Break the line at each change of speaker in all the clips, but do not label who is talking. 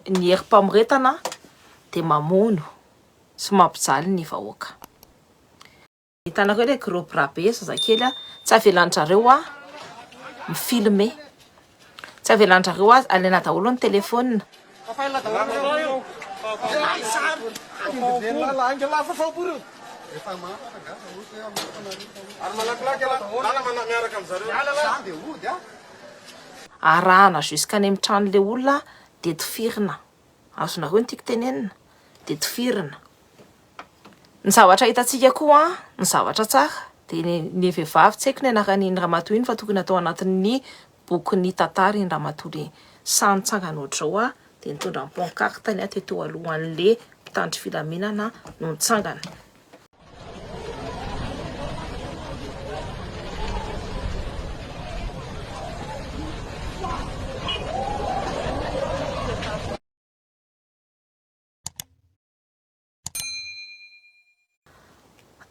Ny herim-pamoretana dia mamono sy mampijaly ny vahoaka. Hitanareo ilay groupe Rabe zazakely a, tsy avelan-dRareo a mi-filme, tsy avelan-dRareo a alaina daholo ny telefaonina. Arahana jusqu'any amin'ny tranon'ilay olona dia tifirina. Azonareo ny tiako tenenina? Dia tifirina. Ny zavatra hitantsika koa, ny zavatra tsara, dia ny ny vehivavy, tsy haiko ny anaran'iny ramatoa iny fa tokony atao anatin'ny bokin'ny tantara iny ramatoa le sahy nitsangana ohatr'izao aho dia nitondra ny pancarteny aho teto alohan'le mpitandro filaminana no nitsangana.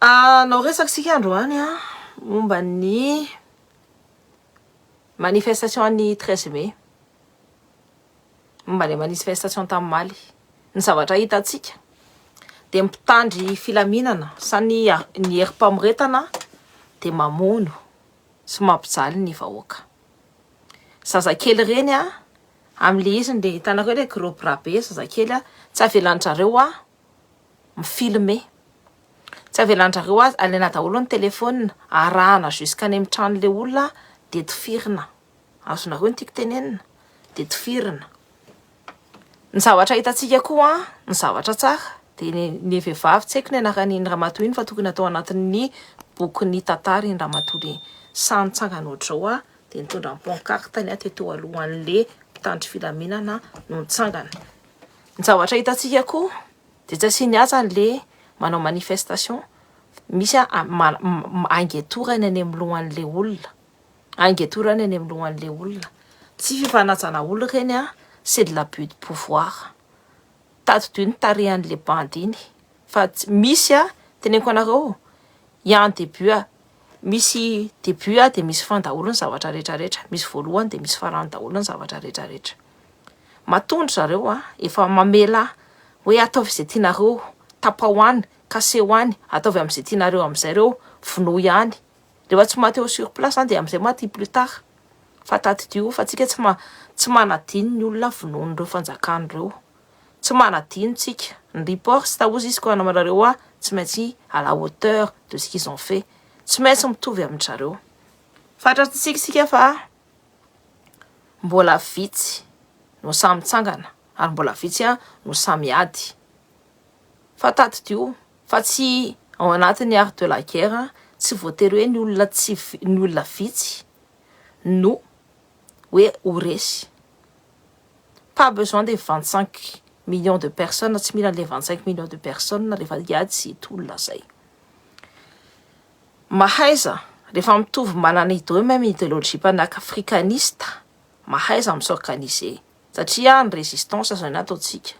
Ah, nao resaka isika androany a ah, momba ny manifestation an'ny treize mai momba ny manifestation tamin'ny Mali. Ny zavatra hitantsika dia ny mpitandry filaminana sa ny ny herim-pamoretana dia mamono sy mampijaly ny vahoaka. Zazakely ireny a, amin'ilay izy ny hitanareo ilay gros bras be zazakely a, tsy avelan-dry zareo mi-filmer, tsy avelan-dry zareo alaina daholo ny téléphone, arahana jusqu'any amin'ny tranon'ilay olona dia tifirina. Azonareo ny tiako tenenina dia tifirina. Ny zavatra hitantsika koa ny zavatra tsara dia ny ny vehivavy tsy haiko ny anaran' iny ramatoa iny fa tokony atao anatin'ny bokin'ny tantara iny ramatoa iny. Sahy nitsangana ohatr'izao aho dia nitondra ny pancarte-ny aho teto alohan'ilay mpitandro filaminana no nitsangana. Ny zavatra hitantsika koa dia tsy asiany atsany ilay manao manifestation, misy an- ma- ma- angetorany any amin'ny lohan'ilay olona. Ainga eto reny eny amin'ny lohan'ilay olona. Tsy fifanajana olona ireny an, c'est de l'abus de pouvoir. Tadidio ny tarehan'ilay bandy iny fa tsy misy an, teneniko anareo i en début an, misy début an dia misy fin daholo ny zavatra rehetra rehetra, misy voalohany dia misy farany daholo ny zavatra rehetra rehetra. Matoa ndry zareo an, efa mamela hoe ataovy izay tianareo, tapaho any, kaseho any, ataovy amin'izay tianareo amin'izay ireo, vonoy any, Rehefa tsy maty eo sur place an dia amin'izay maty plus tard. Fa tadidio fa tsika tsy ma tsy manadino ny olona vonoin'ireo fanjakana ireo. Tsy manadino tsika. Ny report tsy tahozy izy koa namanareo hoa tsy maintsy à la hauteur de ce qu'ils ont fait. Tsy maintsy mitovy amin-dry zareo. Fantatsika isika fa mbola vitsy no sahy mitsangana ary mbola vitsy no sahy miady. Fa tadidio fa tsy ao anatin'ny art de la guerre tsy voatery hoe ny olona tsy ny olona vitsy no hoe ho resy. Pas besoin des vingt cinq millions de personnes tsy mila an'ilay vingt cinq millions de personnes rehefa hiady sy hitolona zay. Mahaiza rehefa mitovy manana ideo même ideologie panafricaniste mahaiza mi s'organiser satria ny resistance zany ataontsika.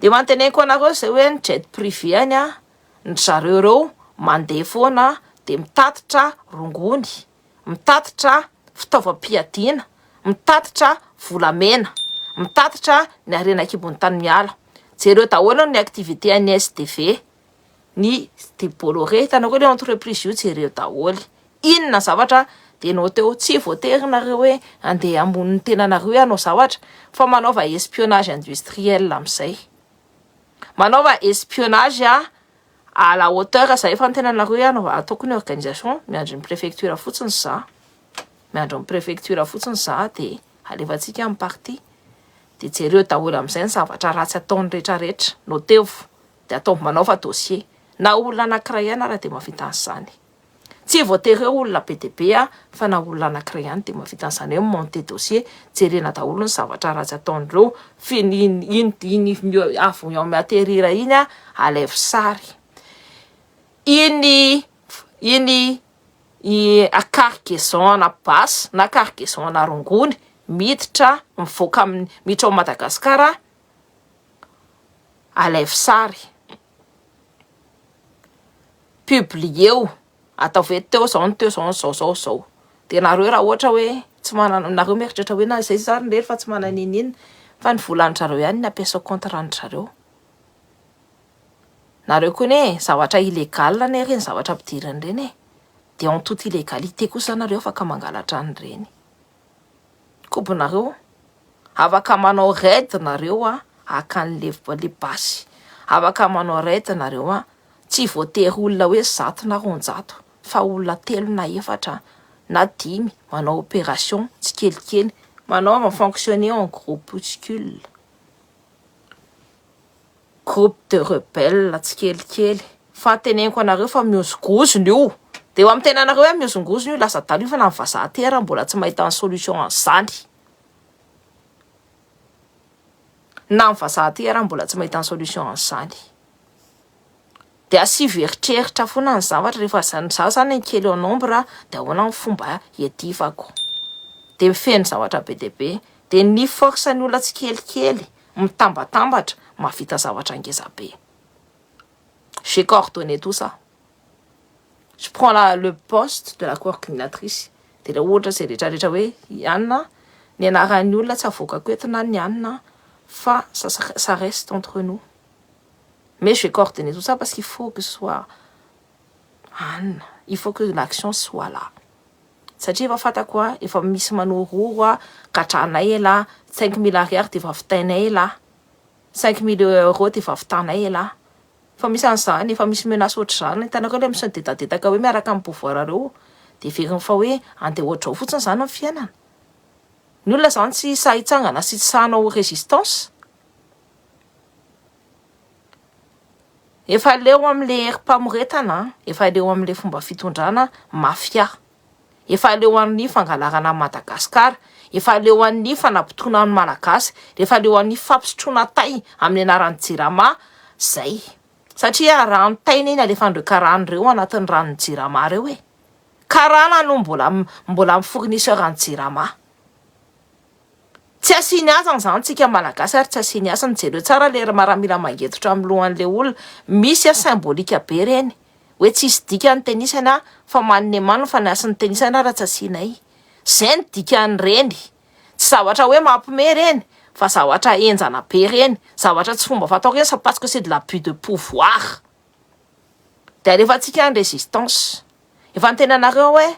Dia manteneko anareo izay hoe ny jet privé any an, ny zareo ireo mandeha foana dia mitatitra rongony, mitatitra fitaovam-piadiana, mitatitra volamena, mitatitra ny harena an-kibon'ny tany miala. Jereo daholo ny activité an'ny SDV. ny debolo re hitanareo le entreprise io jereo daholo inona zavatra de nao teo tsy voatery nareo hoe andeha ambony ny tenanareo hanao zavatra fa manaova espionnage industriel amin'izay manaova espionnage a à la hauteur zay efa ny tenanareo hoe hanao ataoko ny organisation miandry ny prefecture fotsiny za miandry ny prefecture fotsiny za de alefantsika amin'ny partie de jereo daholo amin'izay ny zavatra ratsy ataon'ny retraretra nao tevo Dia ataovy manaova dossier. Na olona anankiray ihany ary dia mahavita an'izany. Tsy voatery hoe olona be dia be aho fa na olona anankiray ihany dia mahavita an'izany hoe mi-monter dossier. Jerena daholo ny zavatra ratsy ataon'ireo fin- iny iny iny avy en mi-atterrir iny a, alaivo sary. Iny iny i a cargaison ana basy na cargaison ana rongony miditra mivoaka amin'ny miditra ao Madagasikara. Alaivo sary. Publier-o. Ataovy hoe teo izao no teo izao no izao izao izao. Dia nareo raha ohatra hoe tsy manana, nareo mieritreritra hoe na izay izay ary re fa tsy manana inona inona, fa ny vola an-dry zareo ihany no ampiasa ao compte ran-dry zareo. Nareo koa anie e, zavatra illégal anie ireny zavatra ampidiriny ireny e. Dia en toute illégalité kosa nareo afaka mangalatra an'ireny. kobonareo afaka manao raid nareo a haka anle le basy afaka manao raid nareo a tsy voatery olona hoe zato na roanjato fa olona telo na efatra na dimy manao operation tsikelikely manaova fonctionner en groupuscule groupe de rebelle tsikelikely fa teneniko anareo fa mihozongozona io de eo am tenanareo hoe mihozongozona io lasa adala io fa na ny vazaha aty ara mbola tsy mahita ny solution an'izany na ny vazaha aty ara mbola tsy mahita ny solution an'izany de asivo eritreritra foana ny zavatra rehefa zany za zany ny kely en nombre de ahoana ny fomba hiadivako de mifehy ny zavatra be dia be de ny force ny olona tsikelikely mitambatambatra mahavita zavatra ngeza be. J'ai coordonné tout ça. Je prends la, le poste de la coordinatrice. Dia ilay ohatra izay rehetrarehetra hoe i Anna, ny anaran'ny olona tsy avoakako eto na ny Anna fa ça, ça reste entre nous. Mais j'ai coordonné tout ça parce qu'il faut que ce soit Ann, il faut que l'action soit là satria efa fantako a, efa misy manororo a, gatranay elah, cinq mille ariary dia efa vitainay elah, cinq mille euros dia efa vitanay elah, efa misy an'izany, efa misy menace ohatr'izany, hitanareo ilay misadedadedaka hoe miaraka amin'ny pouvoir reo dia heveriny fa hoe andeha hoatr'izao fotsiny izany ny fiainana, ny olona izany tsy sahy hitsangana sy tsy sahy hanao résistance. Efa leo amle herimpamoretana an! Efa leo amle fomba fitondrana mafia! Efa leo an'ny fangalarana an'i Madagasikara! Efa leo an'ny fanabotona ny Malagasy! Efa leo an'ny fampisotroana tay amin'ny anaran'ny jirama zay! Satria rano tay anie no alefan'ireo karana ireo anatin'ny ranon'ny jirama reo e! Karana no mbola mi-fournisseur an'ny jirama. Tsy asiany hasiny izany tsika malagasy ary tsy asiany hasiny jereo tsara ilay ry maramila mangetotra amin'ny lohan'ilay olona misy a symbolique be ireny hoe tsy hisy dika ny tenisany a fa manome man fa ny hasin'ny tenisany ary tsy asianay izay ny dikan'ireny tsy zavatra hoe mampime ireny fa zavatra henjana be ireny zavatra tsy fomba fatao ireny sa parce que c'est de l'abus de pouvoir dia alefantsika ny résistance efa niteny anareo hoe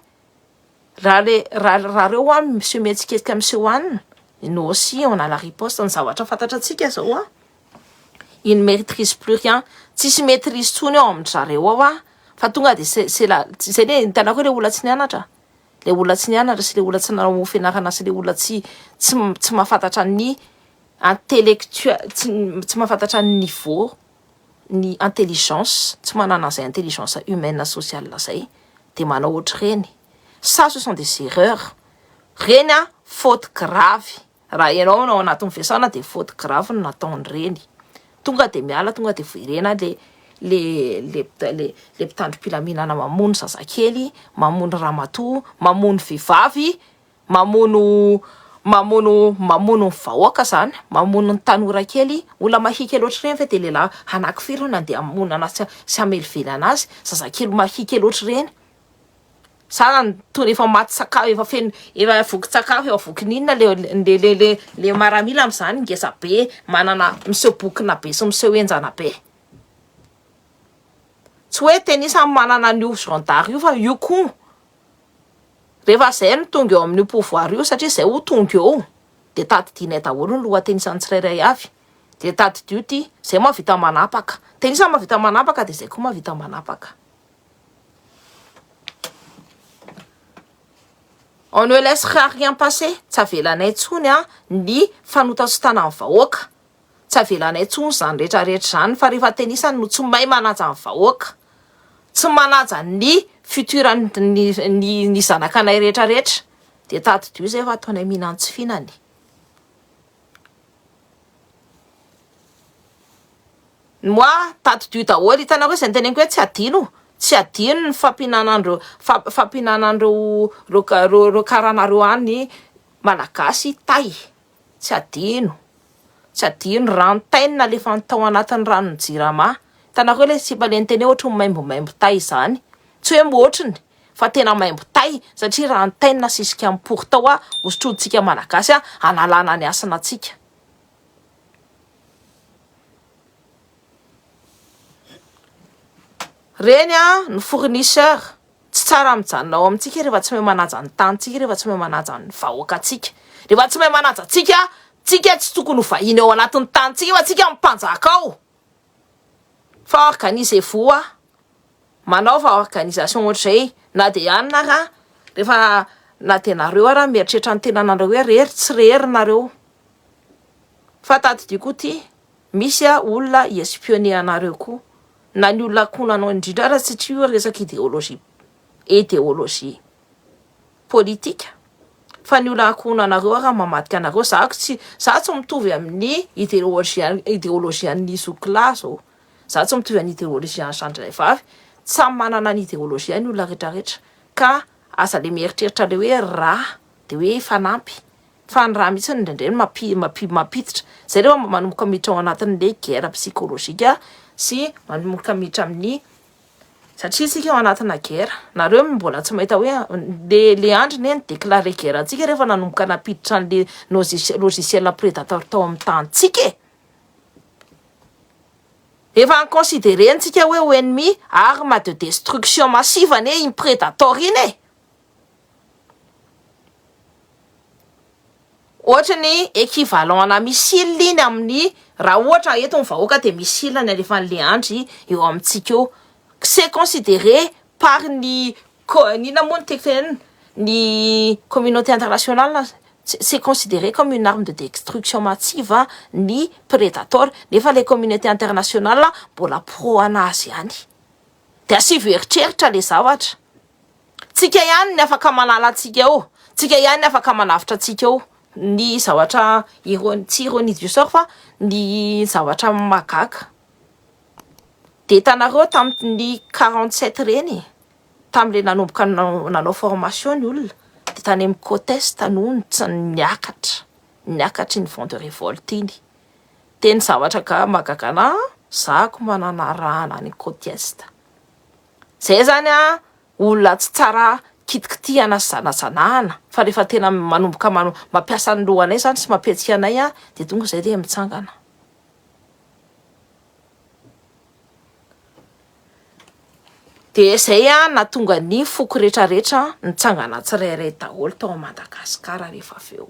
Raha le raha raha reo an miseho mihetsiketsika miseho an no aussi on a la riposte ny zavatra fantatra antsika zao an il maîtrise plus rien tsisy maîtrise tsony ao amin-dry zareo ao an fa tonga de c'est c'est la zay le hitanareo le olona tsy nianatra le olona tsy nianatra sy le olona tsy nanao fianarana sy le olona tsy tsy tsy mahafantatra ny intellectuel tsy tsy mahafantatra ny niveau ny intelligence tsy manana zay intelligence humaine sociale zay de manao ohatr'ireny ça ce sont des erreurs reny a faute grave raha ianao no ao anatin'ny fiasana de faute grave no nataony reny tonga de miala tonga de voirena le le le le le mpitandrom-pilaminana mamono zazakely mamono ramatoa mamono vehivavy Mamono mamono mamono ny vahoaka izany, mamono ny tanora kely, olona mahike loatra ireny ve dia lehilahy hanaky firy no nandeha hamonana sy sy hamelively an'azy, zazakely mahike loatra ireny, sa toa ny efa maty tsaka efa feno efa voky tsakafo efa voky n'inona le le le le le maramila amin'izany ngeza be manana miseho bokona be sy miseho henjana be. Tsy hoe tenisany manana an'io zandary io fa io koa Rehefa izay no tonga eo amin'io pouvoir io, satria izay ho tonga eo dia tadidianay daholo ny lohateny isan'ny tsirairay avy, dia tadidio ity, izay mahavita manapaka, dia isan'ny mahavita manapaka dia izay koa mahavita manapaka. On ne laissera rien passer, tsy avelanay intsony ny fanotatsotana ny vahoaka. Tsy avelanay intsony izany rehetra rehetra izany fa rehefa tenisany no tsy mahay manaja ny vahoaka, tsy manaja ny futur ny zanakanay rehetra rehetra dia tadidio izay fa ataonay mihinantsy fihinana e! Moa tadidio daholo hitanareo izay noteneniko hoe tsy adino, tsy adino ny fampihinanan'ireo fampihinanan'ireo ireo karanareo any Malagasy tay. Tsy adino, tsy adino rantainina alefany tao anatin'ny ranon'ny jirama. Hitanareo ilay sipa ilay niteny hoe ohatry ny maimbomaimbo tay izany? Tsy hoe ohatriny fa tena maimbo tay satria rantainina asisika amin'ny pory tao hosotrointsika Malagasy hanalana ny hasinantsika. Reny an ny fournisseur Tsy tsara mijanona ao amintsika rehefa tsy mahay manaja ny tanintsika, rehefa tsy mahay manaja ny vahoakantsika. Rehefa tsy mahay manaja antsika, tsika tsy tokony ho vahiny ao anatin'ny tanintsika fa tsika no mpanjaka ao. Fa organisez-vous a! Manaova organisation ohatr'izay na dia ihany ara rehefa na dia nareo ara mieritreritra ny tenanareo hoe re ry tsy re ry nareo. Fa tadidio koa ty misy olona hi-espionner anareo koa. na ny olona ankohonanao indrindra ara satria io resaka ideologie ideologie politika fa ny olona ankohonanareo ara mamadika anareo za ko tsy za tsy mitovy amin'ny ideologie ideologie an'ny zokilahy zao za tsy mitovy an'ny ideologie an'ny zandrinay vavy samy manana ny ideologie ny olona rehetra rehetra ka aza le mieritreritra le hoe rà Dia hoe efa nampy. Fa ny rà mihitsy indraindray no mampiditra. Izay rehefa mba manomboka miditra ao anatin'ilay guerre psychologique sy manomboka miditra amin'ny satria isika ao anatina guerre. Nareo mbola tsy mahita hoe le le andry anie ni-declarer guerre antsika rehefa nanomboka nampiditra an'le nozis- logiciel predator tao amin'ny tanintsika e! Efa ni-considerer-ntsika hoe ho ennemi, arme de destruction massive anie iny predator iny e! Ohatra ny equivalent ana missile iny amin'ny raha ohatra eto ny vahoaka dia missile ny alefa an'le andry eo amintsika eo c'est considéré par ny inona moa ny tiako tenenina ny communauté international c'est considéré comme une arme de destruction massive ny predator nefa le communauté international mbola pro anazy ihany. De asivo eritreritra le zavatra. Tsika ihany ny afaka manala antsika eo, tsika ihany ny afaka manavotra antsika eo ny zavatra irony tsy irony izy sôry fa ny zavatra mahagaga. De hitanareo tamin'ny quarante sept reny e, tamin'le nanomboka nanao formation ny olona de tany amin'ny côte est no niakatra, niakatra iny vent de révolte iny. dia ny zavatra ga- mahagaga anahy an, za ko manana arahana any côte est, zay zany an olona tsy tsara kitikitihana sy zanazaanahana fa rehefa tena manomboka mano- mampiasa ny lohanay zany sy mampiatsy anay an dia tonga izay dia mitsangana. Dia zay an nahatonga ny foko retraretra nitsangana tsirairay daholo tao Madagasikara rehefa avy eo.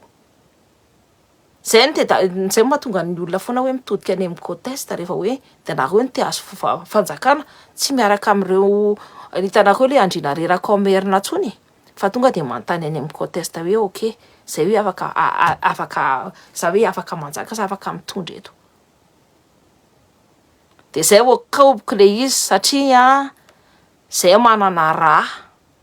Zay no tena, zay no mahatonga ny olona foana hoe mitodika any amin'ny côtes rehefa hoe dia nareo no te hahazo fanjakana, tsy miaraka amin'ireo, hitanareo ilay andriana reraka ao Merina intsony e, fa tonga dia manontany any amin'ny côtes hoe ok, izay hoe afaka afaka za hoe afaka manjaka sa afaka mitondra eto? Dia zay vao kaoboko ilay izy satria zay manana rà.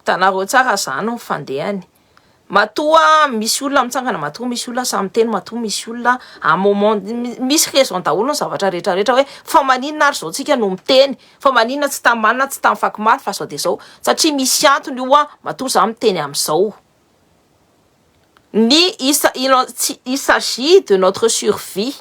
Hitanareo tsara izany ny fandehany. Matoa misy olona mitsangana, matoa misy olona samy teny, matoa misy olona à moment misy raison daholo ny zavatra rehetra rehetra hoe fa maninona ary zao tsika no miteny, fa maninona tsy tamin'ny marina, tsy tamin'ny vaky mafy fa zao dia zao. Satria misy antony io an, matoa za miteny amin'izao. Ny isa- il en tsy- il s'agit de notre survie,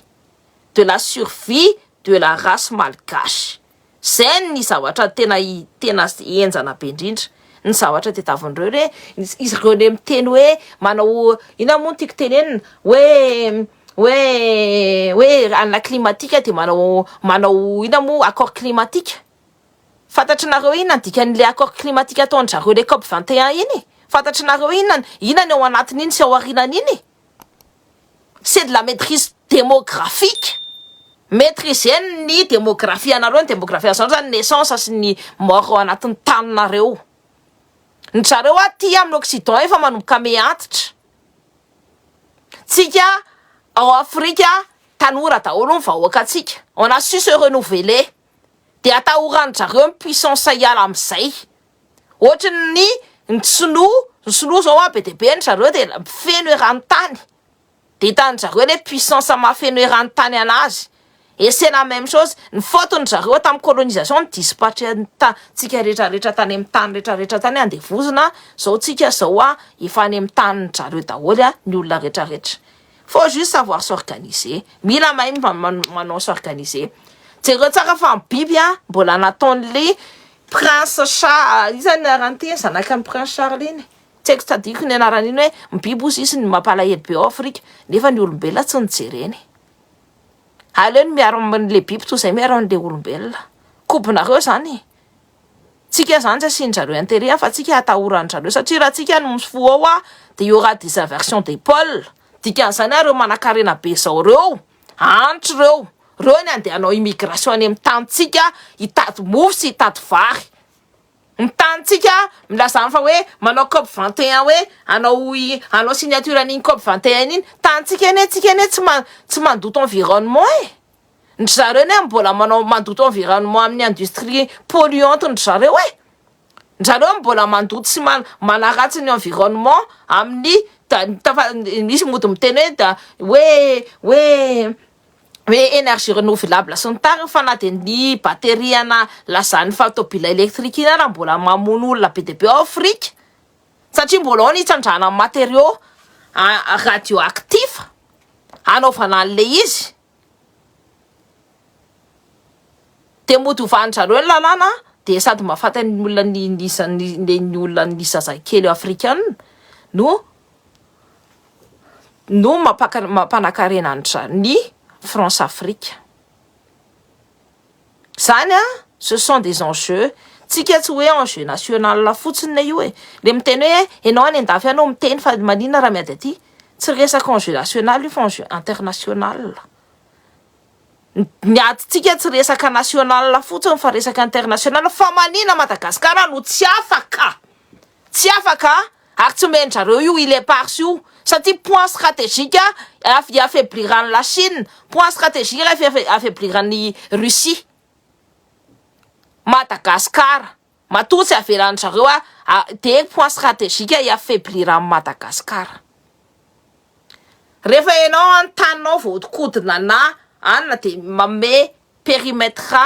de la survie de la race malgache. Izay ny zavatra tena tena henjana be indrindra ny zavatra tadiavin'ireo hoe izy ireo indray miteny hoe manao inona moa no tiako tenenina hoe hoe hoe hanala climatique dia manao manao inona moa accord climatique fantatrinareo inona ny dikan'ilay accord climatique ataon-dry zareo ilay cop vingt et un iny e? Fantatrinareo inona inona ny ao anatin'iny sy ao aorianan'iny e? C'est de la maitrise demographique, maitrisez-ny ny demografianareo, ny demografianareo zany naissance sy ny mort ao anatin'ny taninareo, ny zareo aty amin'ny occident efa manomboka me antitra, tsika ao Afrika tanora daholo ny vahoakantsika, on a su se renouveler dia atahoran-dry zareo ny puissance hiala amin'izay. Ohatry ny ny sinoa, ny sinoa zao a be dia be ny zareo dia mpifeno eran-tany, dia hitan-dry zareo le puissance mahafeno eran-tany anazy, et c'est la même chose, ny faute-ny zareo tamin'ny colonisation no dispatcher ny ta- tsika rehetra rehetra tany amin'ny tany rehetra rehetra tany andevozina, zao tsika zao a efa any amin'ny tanin-dry zareo daholo a ny olona rehetra rehetra, faut juste savoir s'organiser, mila mahay manao s'organiser, jereo tsara fa ny biby a mbola nataon'le Prince Charles, iza ny anaran'ity zanakan'i Prince Charles iny? Tsy haiko tsy tadidiko ny anaran'iny hoe ny biby hozy izy no mampalahelo be ao Afrika nefa ny olombelona tsy nijereny. Aleo ny miaro an'ilay biby toy izay miaro an'ilay olombelona. Kobonareo izany e! Tsika izany tsy asian-dry zareo intérêt fa tsika atahoran-dry zareo satria raha tsika no mifohaoha dia il y aura des inversions des pôles, dikan'izany ary ireo manankarena be izao ireo Antso reo, reo ny andeha anao immigration any am tanintsika hitady mofo sy hitady vary. Ny tanintsika milazano fa hoe manao cop vingt et un hoe anao anao signature an'iny cop vingt et un iny. Tanintsika anie tsika anie tsy ma tsy mandoto environnement e. Ndry zareo anie mbola manao mandoto environnement amin'ny industrie polluante ndry zareo e. Njareo mbola mandoto sy manaratsy ny environnement amin'ny misy mody miteny hoe hoe hoe energie renouvelable sy ny tariny fa na dia ny batterie ana lazan'ny fa tobila électrique iny ara mbola mamono olona be dia be ao Afrika satria mbola ao ny hitsandrana matériaux radio actif hanaovana an'ilay izy. Dia mody hovani-dry zareo ny lalàna dia sady mahafaty ny olona ny ny isan' ny ny ny olona ny zazakely afrikana no no mampanankarena an-dry zareo ny Françafrique. Zany a, ce sont des enjeux, tsika tsy hoe enjeux national fotsiny le io e, le miteny hoe enao any andafy any no miteny fa maninona raha miady aty, tsy resaka enjeux national io fa enjeux international, ny adintsika tsy resaka national fotsiny fa resaka international, fa maninona Madagascar no tsy afaka? Tsy afaka ary tsy omeny zareo io île éparse io satria point stratégique hiafebliran'i la Chine, point stratégique hiafebliran'i Russie Madagascar, matoa tsy avelan'ny zareo dia point stratégique hiafebliran'i Madagascar. Rehefa ianao an taninao voahodinkodina na anona dia manome perimetre.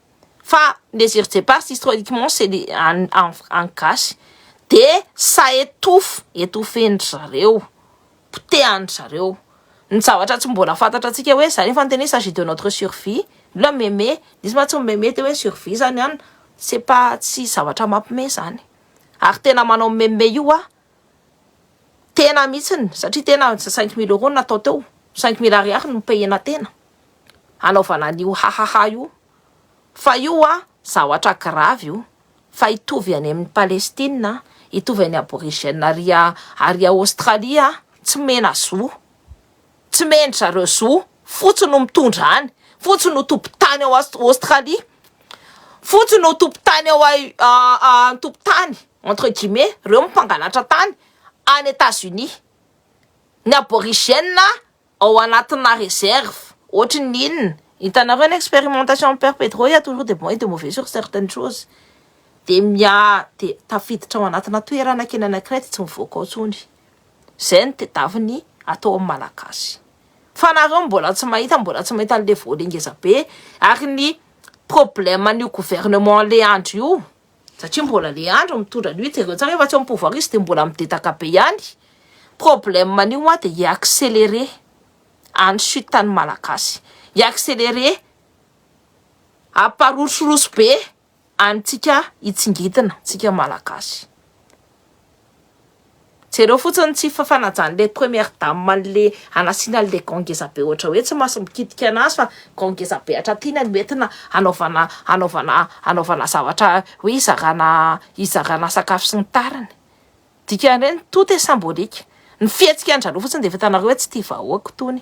fa Désir Djepars historiquement c'est des an an an gasy de ça étouffe étouffen'dry zareo potehan'dry zareo ny zavatra tsy mbola fantatra antsika hoe zany efa niteny hoe s'agit de notre survie mbola meme nisy mantsy mimeme teo hoe survie zany an c'est pas tsy zavatra mampime zany ary tena manao meme io hoa tena mitsiny satria tena cinq mille euros natao teo cinq mille ariary no payena tena hanaovana an'io hahaha io fa io zavatra gravy io fa hitovy any amin'ny Palestina hitovy any aborigène ary ary Aostralia tsy mena zo tsy mendry zareo zo fotsy no mitondra any fotsy no tompon-tany ao Aostralia fotsy no tompon-tany ao an-tompon-tany entre guillemets reo mpangalatra tany any États-Unis ny aborigène ao anatina réserve ohatry ny inona hitanareo ny expérimentation père Pedro il ya toujours de bon et de mauvais sur certaines choses dia mia dia tafiditra ao anatina toerana kely anankiray dia tsy mivoaka ao intsony izay no tedaviny atao amin'ny malagasy fa nareo mbola tsy mahita mbola tsy mahita an'le voale ngezabe ary ny problème an'io gouvernement le andro io satria mbola le andro mitondra an'io jereo tsara efa tsy am pouvoir izy de mbola midedaka be ihany, problème an'io hoa de hi accélérer any chute any malagasy, hi accélérer hamparosoroso be antsika hitsingitina tsika malagasy. Jereo fotsiny ny tsy fanajan'ilay première dame an'ilay hanasiana an'ilay gants ngeza be ohatra hoe tsy maso mikitika an'azy fa gants ngeza be hatratiana no entina hanaovana hanaovana hanaovana zavatra hoe hizarana hizarana sakafo sy ny tariny. Dikan'ireny tout est symbolique. Ny fihetsikan-dry zareo fotsiny dia efa hitanareo hoe tsy tia vahoaka itony.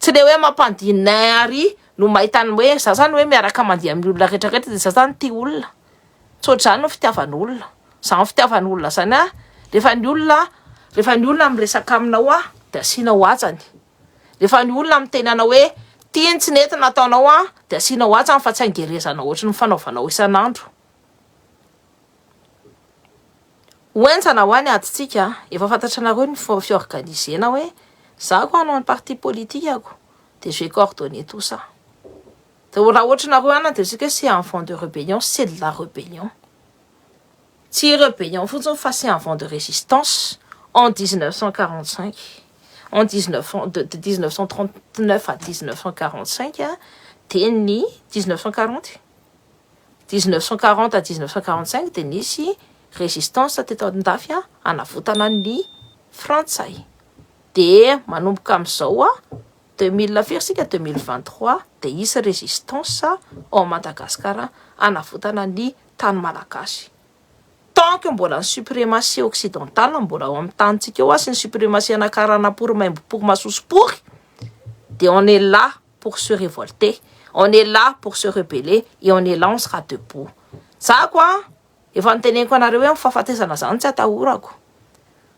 Tsy le hoe mampandina ary no mahita ny hoe za zany hoe miaraka mandeha amin'ny olona rehetra rehetra dia za zany tia olona. Tsy ohatr'izany no fitiavan'olona. Izany fitiavan'olona izany a, rehefa ny olona rehefa ny olona miresaka aminao a, dia asianao hajany. Rehefa ny olona miteny anao hoe tiany tsy nety nataonao a, dia asianao hajany fa tsy angerezanao ohatry ny fanaovanao isan'andro. Ho enjana ho any adintsika, efa fantatranareo ny fiorganisena hoe za ko hanao ny parti politikako dia je coordonne tout ça. Dia raha ohatranareo any dia tsika hoe c'est un vent de rébellion, c'est de la rébellion. Tsy rébellion fotsiny fa c'est un vent de résistance en 1945, en 19 cent de 1939 à 1945 dia ny 1940. dix neuf cent quarante à dix neuf cent quarante cinq dia nisy résistance teto Andafy hanavotana ny frantsay dia manomboka amin'izao deux mille firy isika deux mille vingt trois dia hisy résistance ao Madagasikara hanavotana ny tany malagasy tant que mbola ny suprématie occidentale mbola ao amin'ny tanintsika ao sy ny suprématie anakaranam-pory maimbo-pory masosopory dia on est là pour se revolter, on est là pour se rebeller et on est là, on sera debout. Zako an! Efa niteneniko anareo hoe ny fahafatesana zany tsy atahorako.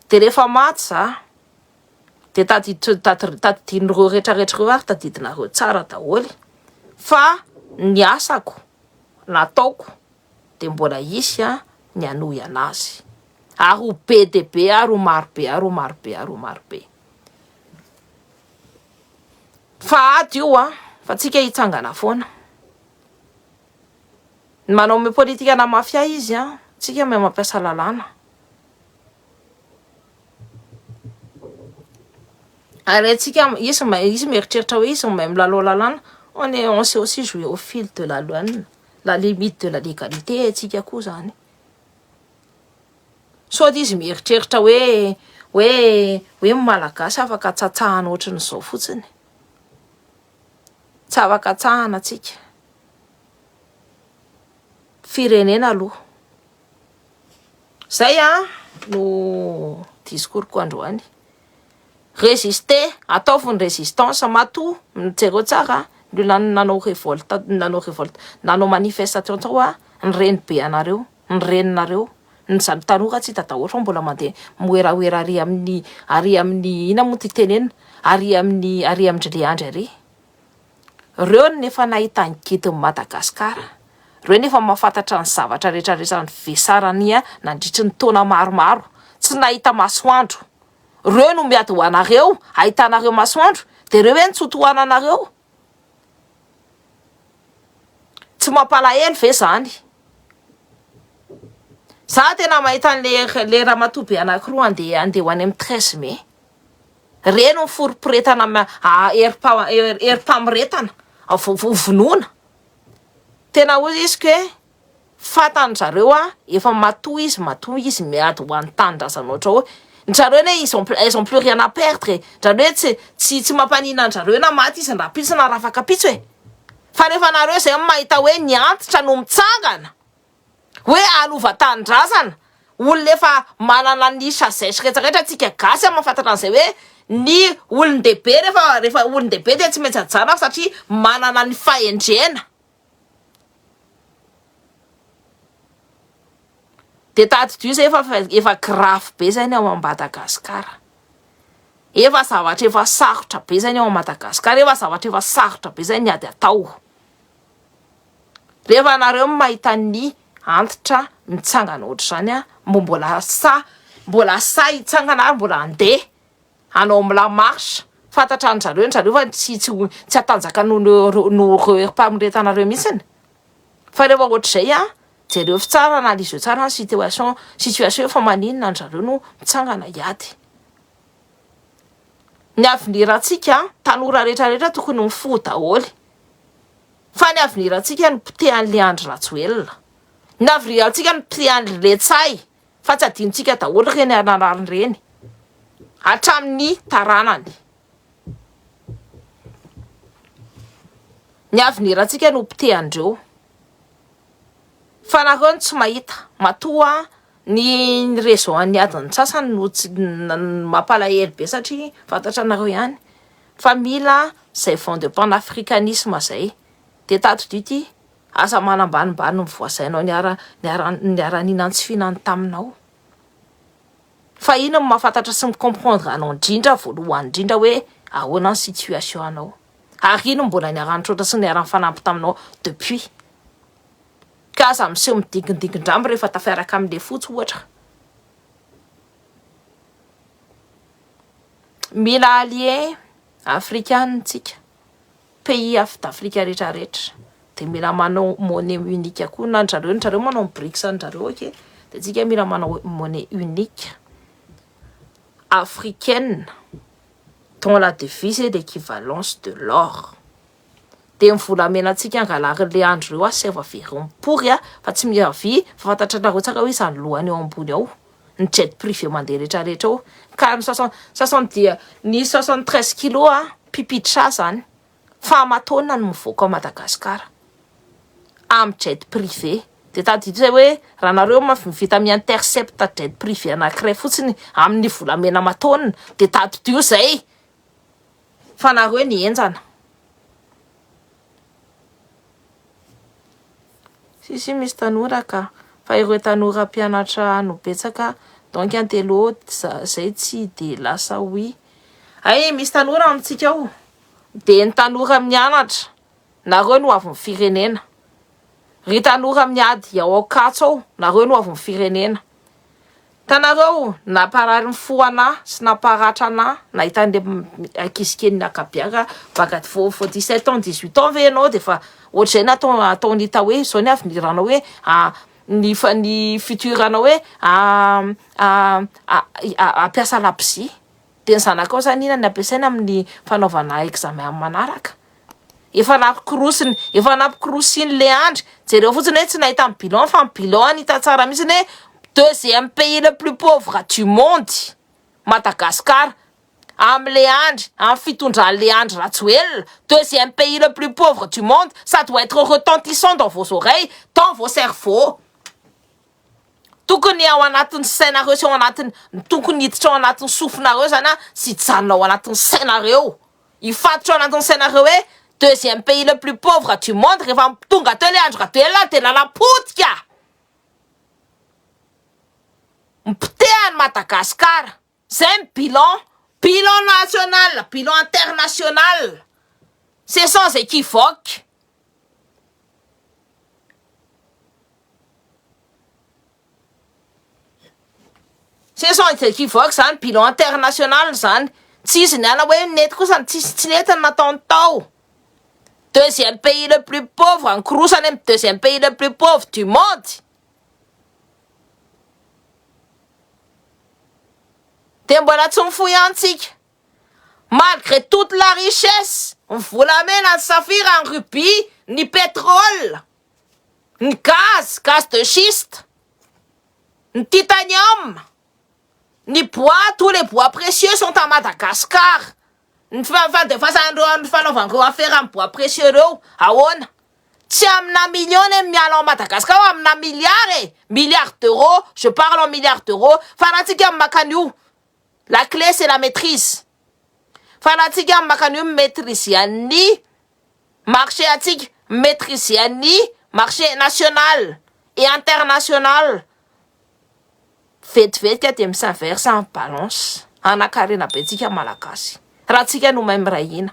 Dia rehefa maty za, dia tadidin'ireo retraretra ireo ary tadidinareo tsara daholo fa ny asako nataoko dia mbola hisy an ny hanohy anazy. Ary ho be dia be ary ho maro be ary ho maro be ary ho maro be. Fa ady io an, fa tsika hitsangana foana. Ny manao me politika na mafia izy an, tsika me mampiasa lalàna. Ary tsika izy izy mieritreritra hoe izy may milalao lalàna, on est on sait aussi jouer au fil de la loi, la limite de la légalité tsika koa zany. sao dia izy mieritreritra hoe hoe hoe ny Malagasy afaka tsatsahana ohatran'izao fotsiny e, tsy afaka tsahana tsika, firenena aloha, zay an no discours ko androany, resister ataovy ny resistance matoa jereo tsara ny olona nanao revolte nanao revolte nanao manifestation tao an ny renibe anareo. ny reninareo ny zany tanora tsy hita daholo fa mbola mandeha moeraoera ary amin'ny ary amin'ny inona moa ity tenenina ary amin'ny ary amin-dry Leandry ary reo no efa nahita ny gidin'i Madagasikara reo no efa mahafantatra ny zavatra rehetra rehetra ny vesarania nandritry ny taona maromaro tsy nahita masoandro reo no miady ho anareo ahitanareo masoandro dia reo hoe ny tsy ho tohananareo Tsy mampalahelo ve zany? Za tena mahita an'le le ramatoa be anankiroa andeha andeha ho any amin'ny treize mai. Reny ny forom-piretana ma- a- herim-pa- herim-pamoretana, vonoina. Tena hoy izy ka hoe. Fantany zareo hoa efa matoa izy matoa izy miady ho any tanindrazana ohatrao ny zareo anie ils ont elles ont plus rien à perdre e, zany hoe tsy tsy tsy mampanina anjareo na maty izy rahampitso na rafankapitso e, fa rehefa nareo zay no mahita hoe ny antitra no mitsangana hoe alova tanindrazana olona efa manana ny sagesse rehetra rehetra antsika gasy a mahafantatra an'izay hoe ny olondehibe rehefa rehefa olondehibe dia tsy maintsy ajanona satria manana ny fahendrena Dia tadidio izay fa efa grave be izay ny ao Madagascar. Efa zavatra efa sarotra be izay ny ao Madagascar, efa zavatra efa sarotra be izay ny ady atao. Rehefa ianareo no mahita ny antitra mitsangana ohatr'izany, mba mbola sahy, mbola sahy hitsangana ary mbola handeha. hanao am la marche fantatra ny zareo ny zareo fa tsy tsy ho tsy hatanjaka noho ireo noho ireo herim-pamoretana ireo mihitsiny fa rehefa ohatr'izay an jerevo tsara analyse eo tsara ny situation situation eo fa maninona ny zareo no mitsangana hiady ny avenir antsika an tanora rehetra rehetra tokony mifoha daholo fa ny avenir antsika no potehan'ilay andry rajoelina ny avenir antsika no potehan'ilay letsay fa tsy adinontsika daholo ireny hanarary ireny hatramin'ny taranany. Ny avenirantsika no potehan'ireo. Fa nareo no tsy mahita, matoa ny réseau an'ny adin'ny sasany no tsy mampalahelo be satria fantatra anareo ihany fa mila izay vent de panafricanisme izay dia tadidio ity. Aza manambanimbany ny voasainao niara niara niara-nihinany sy fihinany taminao. Fa iny no mahafantatra sy mi-comprendre anao indrindra voalohany indrindra hoe ahoana ny situation anao. Ary iny no mbola niara-nitroatra sy niara-nifanampy taminao depuis. Ka aza miseho midingindingin-drambony rehefa tafiaraka amin'ny lefotsy ohatra. Mila alliés afrikanina isika. pays af d'Afrique rehetra rehetra de mila manao monnaie unique koa na anjareo anjareo manao ny brics anjareo ok de tsika mila manao monnaie unique africaine dont la devise est l'équivalence de l'or de ny volamena tsika angalary le andro reo ah serva very mipory ah fa tsy miavia fa fantatranareo tsara hoe izany lohany eo ambony ao ny jet privé mandeha rehetra rehetra ao ka ny sasany sasany dia ny sasany treize kilo a pipitra zany fa amataona no mivoaka ao Madagasikara amin'ny jet privé dia tadidio zay hoe raha nareo mafy mivita mi intercepte jet privé anankiray fotsiny amin'ny volamena amataona dia tadidio zay Fa nareo anie enjana. Si si misy tanora ka, fa ireo tanora mpianatra no betsaka donc intello zay tsy de lasa oui. Hay misy tanora amintsika ao, dia ny tanora mianatra, nareo no hoavin'ny firenena, ry tanora miady ao Ankatso ao, nareo no hoavin'ny firenena. Hitanareo, namparary ny fo anà sy namparatra anà nahita an'ilay ankizy kely niaka-biaka baka aty vao vao dix sept ans dix huit ans ve ianao dia efa ohatr'izay ny atao ataony hita hoe izao ny avenir-nao hoe ny ny futur-nao hoe hampiasa labozia dia ny zanakao izany inona ny ampiasaina amin'ny fanaovana examen amin'ny manaraka? Efa nampikorosiny, efa nampikorosiny le andry, jereo fotsiny hoe tsy nahita ny bilan fa ny bilan any hita tsara mitsiny hoe deuxième pays le plus pauvre du monde Madagascar am le andry am fitondran le andry rajoelina deuxième pays le plus pauvre du monde ça doit etre retentissant dans vos oreilles dans vos cerveaux Tokony ao anatin'ny sainareo sy ao anatin'ny tokony hiditra ao anatin'ny sofinareo zany a sy hijanona ao anatin'ny sainareo hifatotra ao anatin'ny sainareo hoe deuxième pays le plus pauvre du monde rehefa tonga teo le Andry Rajoelina de lala potika mipotehany Madagascar. Zay ny bilan, bilan national, bilan international, c'est sans equivoque. C'est sans equivoque zany, bilan international zany, tsy izy niala hoe nety kosa ny tsisy tsy nety ny nataony tao. Deuxième pays le plus pauvre, nikorosana amin'ny deuxième pays le plus pauvre du monde. Dia mbola tsy mifoha ihany tsika. Malgré toute la richesse, ny volamena, ny safira, ny rubis, ny pétrole, ny gaz, gaz de schiste, ny titanium, ny bois, tous les bois précieux sont à Madagascar. Ny tsy fahafahatefasan' ireo amin' ny fanaovan' ireo afera amin' ny bois précieux ireo ahoana? Tsy amina million ny miala ao Madagascar fa amina milliard e! Milliard d'euros, je parle en milliard d'euros, fa raha tsika no maka an' io, la clé c'est la maitrise, fa raha tsika no maka an' io mi-maitriser an' ny marché antsika mi-maitriser an'ny marché national et international vetivetika dia mi-s'inverse en balance hanankarenabentsika malagasy raha tsika no mahay miray hina.